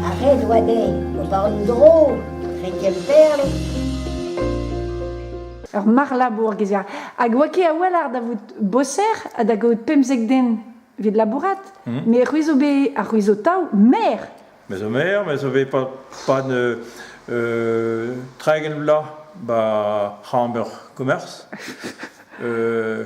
Arrez oa dezhi ober un dro dre Kemperle. Ur marlabour gezier. Hag oa ket a-walc'h da vout boser ha da gaout pemzek den evit labourat. Hmm. Me c'hwi zo bet ar c'hwi zo tav maer. Me zo maer, me zo bet pas ne euh, treigen vla ba c'hamber commerce. Euh,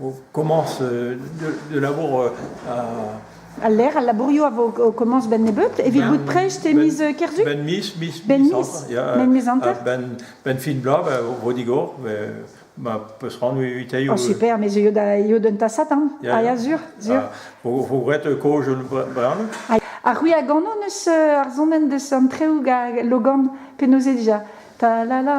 on commence de labour Al lec'h, al labourioù a vo o komañs benn nebeut evit bout prest e miz Kerzu? Benn miz, miz, benn miz, benn miz hanter? Benn, benn fin bloaz, o vo digor, ma peus c'hoant evitailhoù. Oh super, me zeuio da eo d'un tasad an, a ya sur, sur. Ro gret koz bremañ. Ar c'hwi a gano neus ar zonen deus an treoù gag Logan, penaos eo dija? Ta la la.